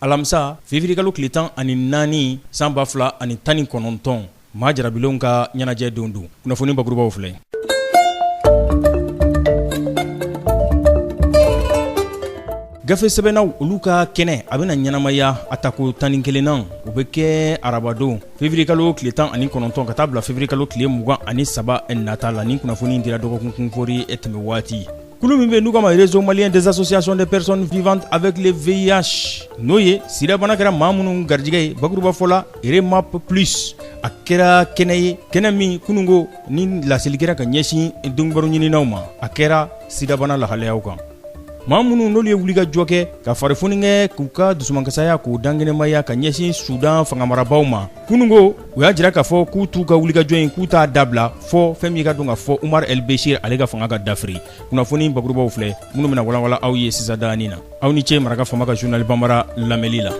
alamisa février kalo tile tan ani naani san ba fila ani tan ni kɔnɔntɔn maa jarabilenw ka ɲɛnajɛ don don kunnafoni bakurubaw filɛ gafe sɛbɛnnaw olu ka kɛnɛ a bɛna ɲɛnamaya a tako tan ni kelennan o bɛ kɛ arabadon février kalo tile tan ani kɔnɔntɔn ka taa bila février kalo tile mugan ani saba nata la nin kunnafoni dira dɔgɔkun kunfori tɛmɛ waati kulu min bɛ yen n'u k'a ma réseau malien des associations des personnes vivantes avec le VIH n'o ye sidabana kɛra maa minnu garijɛgɛ ye bakurubafɔ la REMAP plus a kɛra kɛnɛ ye kɛnɛ min kununko ni laseli kɛra ka ɲɛsin donkibaru ɲininaw ma a kɛra sidabana lahalayaw kan maa minnu n'olu ye wulikajɔ kɛ ka farifoni kɛ k'u ka dusumankasaya k'u dankɛnɛmaya ka ɲɛsin sudan fangamarabaw ma kununko u y'a jira k'a fɔ k'u t'u ka wulikajɔ in k'u t'a dabila fɔ fɛn min ye k'a dɔn k'a fɔ Umar El Bechir ale ka fanga ka dafiri kunnafoni bakurubaw filɛ minnu bɛna walawala aw ye sisan danin na aw ni ce maraka fama ka journal banbara lamɛnli la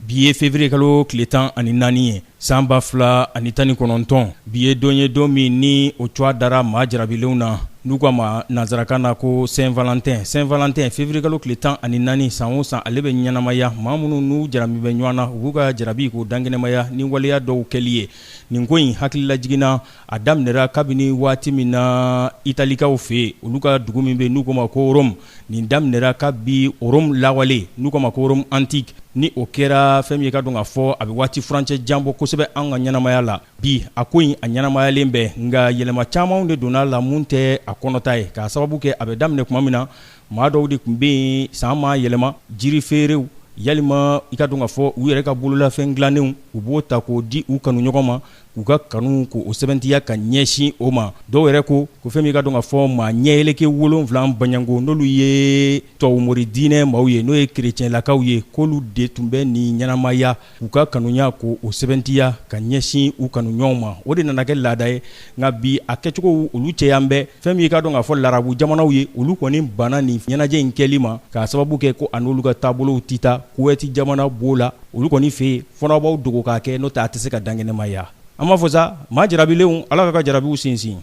Bi ye février kalo tile tan ani naani ye san ba fila ani tan ni kɔnɔntɔn bi ye don ye don min ni o tɔgɔ dara maa jarabilenw na n'u k'a ma nansarakan na ko Saint-Valentin Saint-Valentin février kalo tile tan ani naani san o san ale bɛ ɲɛnamaya maa minnu n'u jarabi bɛ ɲɔgɔn na u b'u ka jarabi k'o dankɛnɛmaya ni waleya dɔw kɛli ye nin ko in hakililajigin na a daminɛra kabini waati min na italikaw fɛ yen olu ka dugu min bɛ n'u k'o ma ko Rome nin daminɛra kabi Rome lawale n'u k'o ma ko Rome antique ni o kɛra fɛn min ye k'a dɔn k'a fɔ a bɛ waati furancɛ jan bɔ kosɛbɛ an ka ɲɛnamaya la bi a ko in a ɲɛnamayalen bɛ nka yɛlɛma camanw de donna a la minnu tɛ a kɔnɔta ye k'a sababu kɛ a bɛ daminɛ tuma min na maa dɔw de tun bɛ yen san ma yɛlɛma jiri feereerew walima i k'a dɔn k'a fɔ u yɛrɛ ka bololafɛn dilannenw u b'o ta k'o di u kanuɲɔgɔn ma k'u ka kanu k'o sɛbɛntiya ka ɲɛsin o ma dɔw yɛrɛ ko ko fɛn min k'a dɔn k'a fɔ maa ɲɛyeleke wolonwula baɲango n'olu ye tubabumori diinɛ maaw ye n'o ye kerecɛnlakaw ye k'olu de tun bɛ nin ɲɛnamaya k'u ka kanuya k'o sɛbɛntiya ka ɲɛsin u kanuɲɔgɔnw ma o de nana kɛ laada ye nka bi a kɛcogow olu cɛyalen bɛ fɛn min ye k'a dɔn k'a fɔ larabu jamanaw ye olu kɔni banna nin ɲɛnajɛ in kɛli ma k'a sababu kɛ ko a n'olu ka taabolow tɛ taa kuwɛti jamana b'o la olu kɔni fɛ yen fɔ n'aw b'aw dogo k'a kɛ n'o tɛ a tɛ se ka dankɛnɛmaya an b'aw fo sa maa jarabilenw ala k'aw ka jarabiw sinsin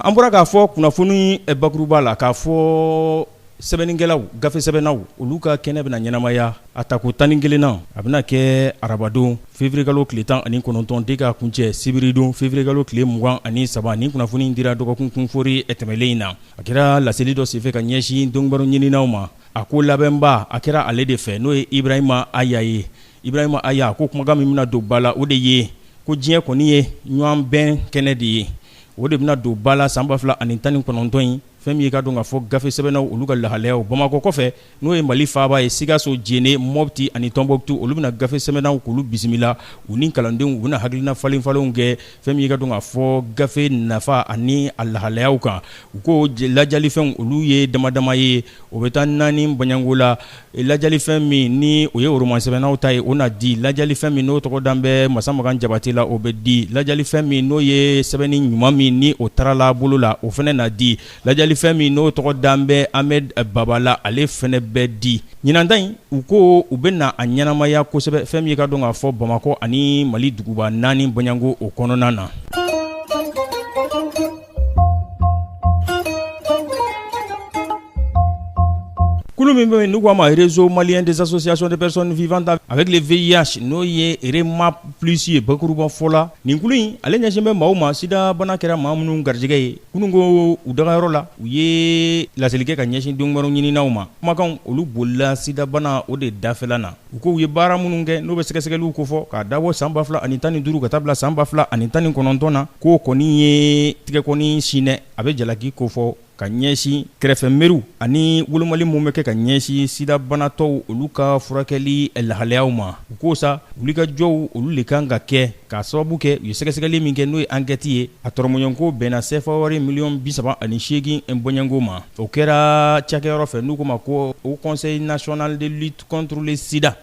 an bɔra k'a fɔ kunnafoni bakuruba la k'a fɔ sɛbɛnnikɛlaw gafesɛbɛnnaw olu ka kɛnɛ bɛna ɲɛnamaya a tako tan ni kelennan a bɛna kɛ arabadon fevirikalo tile tan ani kɔnɔntɔn de ka kuncɛ sibiridon fevirikalo tile mugan ani saba nin kunnafoni dira dɔgɔkun kunfori tɛmɛlen in na a kɛra laseli dɔ senfɛ ka ɲɛsin donkibaru ɲininnaw ma a ko labɛnba a kɛra ale de fɛ n'o ye ibrahima aya ye ibrahima aya ko kumakan min bɛna don ba la o de ye ko diɲɛ kɔni ye ɲɔgɔn bɛn kɛnɛ de ye o de bɛna don ba la san ba fila ani tan ni kɔnɔntɔn in fɛn min ye ka dɔn k'a fɔ gafe sɛbɛnnaw olu ka lahalayaw bamakɔ kɔfɛ n'o ye mali faaba ye sikaso jene mɔpti ani tɔnbɔkutu olu bɛna gafe sɛbɛnnaw k'olu bisimila u ni kalandenw u bɛna hakilina falenfalenw kɛ fɛn min ye ka dɔn k'a fɔ gafe nafa ani a lahalayaw kan u ko lajalifɛnw olu ye damadama ye o bɛ taa naani bɔɲɔgɔnko la Lajalifɛn min ni o ye roman sɛbɛnnaw ta ye o na di lajalifɛn min n'o tɔgɔ dan bɛ masa makan jabatɛ la o bɛ di lajalifɛn min n'o ye sɛbɛnni ɲuman min ni o tarala bolo la o fana na di lajalifɛn min n'o tɔgɔ dan bɛ ahmed baba la ale fana bɛ di ɲinan in u ko u bɛna a ɲɛnamaya kosɛbɛ fɛn min ye ka dɔn k'a fɔ bamakɔ ani mali duguba naani bɔɲɔgɔnko o kɔnɔna na Kulu min bɛ yen n'u k'a ma réseau malien des associations de personnes vivant avec le VIH n'o ye REMAP plus ye bakuruba fɔ la, nin kulu in ale ɲɛsin bɛ maaw ma sidabana kɛra maa minnu garijɛgɛ ye kunun ko u dagayɔrɔ la u ye laseli kɛ ka ɲɛsin donkibaru ɲininaw ma kumakanw olu bolila sidabana o de dafɛla na U k' u ye baara minnu kɛ n'o bɛ sɛgɛsɛgɛliw kofɔ k'a dabɔ san ba fila ani tan ni duuru ka taa bila san ba fila ani tan ni kɔnɔntɔn na k'o kɔni ye tɛgɛkɔni sin n'a bɛ jalaki kofɔ ka ɲɛsin kɛrɛfɛmeriw ani wolomali minnu bɛ kɛ ka ɲɛsin sidabanatɔw olu ka furakɛli lahalayaw ma u ko sa wulikajɔw olu de kan ka kɛ k'a sababu kɛ u ye sɛgɛsɛgɛli min kɛ n'o ye ankɛti ye a tɔrɔmɔɲɔgɔnko bɛnna sefawari miliyɔn bisaba ani seegin bɔɲɔgɔnko ma o kɛra cakɛyɔrɔ fɛ n'u k'o ma ko o conseil national contre le sida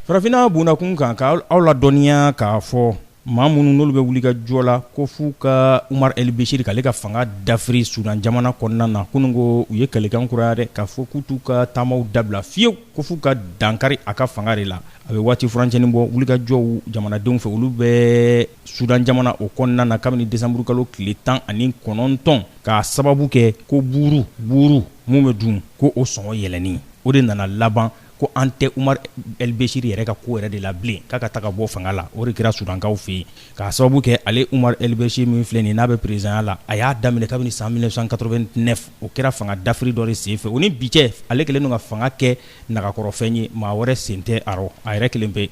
farafinna bɔnna kun kan ka aw ladɔnniya k'a fɔ maa minnu n'olu bɛ wulikajɔ la ko f'u ka umaru elbesiri k'ale ka fanga dafiri sudan jamana kɔnɔna na kunun ko u ye kalikan kuraya dɛ k'a fɔ k'u t'u ka taamaw dabila fiyewu ko f'u ka dankari a ka fanga de la a bɛ waati furancɛnin bɔ wulikajɔw jamanadenw fɛ olu bɛ sudan jamana o kɔnɔna na kabini desanburukalo tile tan ani kɔnɔntɔn k'a sababu kɛ ko buuru buuru min bɛ dun ko o sɔngɔ yɛlɛnni o de nana laban ko an tɛ umaru elbesiri yɛrɛ ka ko yɛrɛ de la bilen k'a ka taga bɔ fanga la o de kɛra sudankaw fɛ yen k'a sababu kɛ ale umaru elbesiri min filɛ nin n'a bɛ perezidanya la a y'a daminɛ kabini san 1989 o kɛra fanga dafiri dɔ de senfɛ o ni bi cɛ ale kɛlen don ka fanga kɛ nagakɔrɔfɛn ye maa wɛrɛ sen tɛ a rɔ a yɛrɛ kelen pe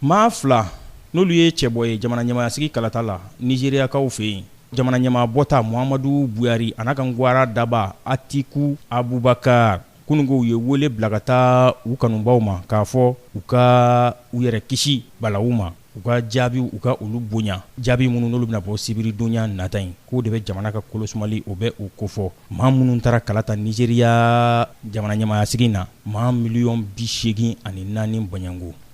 Maa fila n'olu ye cɛbɔ ye jamana ɲɛmaayasigi kalata la nizeriyakaw fɛ yen jamana ɲɛmaa bɔta muhamadu buhari a n'a ka gawara daba atiku abubakari kununko u ye wele bila ka taa u kanubaw ma k'a fɔ u ka u yɛrɛ kisi balawu ma u ka jaabiw u ka olu bonya jaabi minnu n'olu bɛna bɔ sibiridonya nata in k'o de bɛ jamana ka kolosumali o bɛ o kofɔ maa minnu taara kalata nizeriya jamana ɲɛmaayasigi na maa miliyɔn bisegin ani naani bɔɲɔgɔnko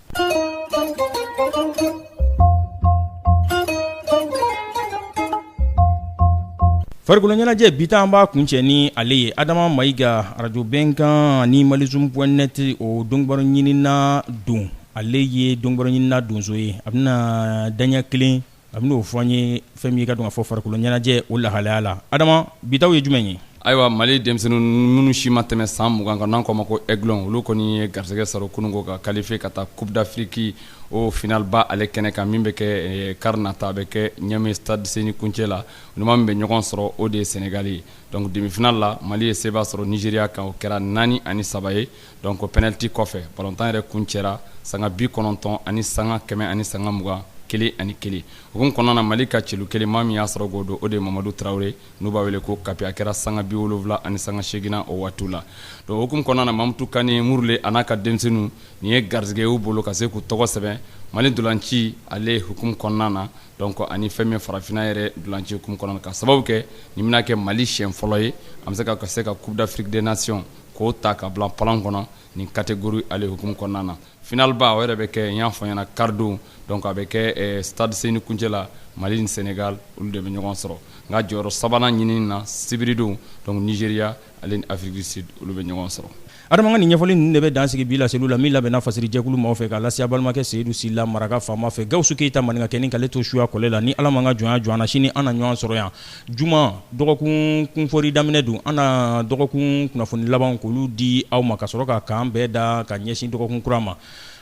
Farikolo ɲɛnajɛ bi an b'a kuncɛ ni ale ye adama mayiga arajo bɛnkan ni malizum point net o donbaro ɲinina don ale ye donbaro ɲinina donso ye a bɛna daɲɛ kelen A bɛna o fɔ an ye fɛn min ye ka dɔn k'a fɔ farikolo ɲɛnajɛ o lahalaya la adama bitaw ye jumɛn ye ayiwa mali denmisɛnnin minnu si ma tɛmɛ san mugan kan n'an k'o ma ko aiglon olu kɔni ye garisɛgɛ sɔrɔ kununko ka kalifiye ka taa coupe d'afrique o final ba ale kɛnɛ kan min bɛ kɛ kari nata a bɛ kɛ ɲamɛ stade seni kuncɛ la u ni maa min bɛ ɲɔgɔn sɔrɔ o de ye sɛnɛgali ye donc demi final la mali ye seba sɔrɔ nizeriya kan o kɛra naani ani saba ye Donc penalti kɔfɛ balɔntan yɛrɛ kuncɛra sanga bi kɔnɔntɔn ani sanga kɛmɛ ani sanga mugan kelen ani kelen hukumu kɔnɔna na mali ka celu kelen maa min y'a sɔrɔ k'o don o de ye mamadu tarawele n'u b'a wele ko kapi a kɛra sanga bi wolonwula ani sanga seginnan o waati la donc hukumu kɔnɔna na mamutu kane murule a n'a ka denmisɛnnin nin ye garisɛgɛ y'u bolo ka se k'u tɔgɔ sɛbɛn mali ntolanci ale hukumu kɔnɔna na donc ani fɛn min farafinna yɛrɛ ntolanci kɔnɔ ka sababu kɛ nin bɛna kɛ mali siyɛn fɔlɔ ye an bɛ se ka coupe d'afrique des nations k'o ta ka bila palan kɔnɔ nin catégorie ale hukumu kɔnɔna na final ba o yɛrɛ bɛ kɛ n y'a fɔ ɲɛna kari don donc a bɛ kɛ ɛɛ stade Seni Kuncɛ la Mali ni Senegal olu de bɛ ɲɔgɔn sɔrɔ nka jɔyɔrɔ sabanan ɲinini na sibiridon donc Nigeria ale ni Afrique du Sud olu bɛ ɲɔgɔn sɔrɔ. Adama ka nin ɲɛfɔli ninnu de bɛ dan sigi bi laseliw la min labɛnna fasiri jɛkulu maaw fɛ k'a lase a balimakɛ Seyidu Sila, maraka faama fɛ, Gawusu Keyita maninkakɛnin ka ale to suya kɔlɛ la, ni Ala ma an ka jɔnya jɔ an na, sini an na ɲɔgɔn sɔrɔ yan. Juma dɔgɔkun kunfɔri daminɛ don an na dɔgɔkun kunnafoni laban k'olu di aw ma ka sɔrɔ ka kan bɛɛ da ka ɲɛsin dɔgɔkun kura ma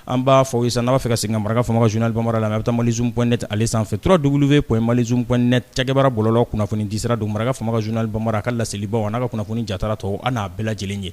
an b'a fɔ aw ye sa n'a b'a fɛ ka segin ka maraka faama ka journal bambara lamɛn a bɛ taa malizum point net ale sanfɛ trois double v point malizum point net cakɛbaara bɔlɔlɔ kunnafoni disira don maraka faama ka journal bambara a ka laselibaw a n'a ka kunnafoni jatala tɔw an n'a bɛɛ lajɛlen ye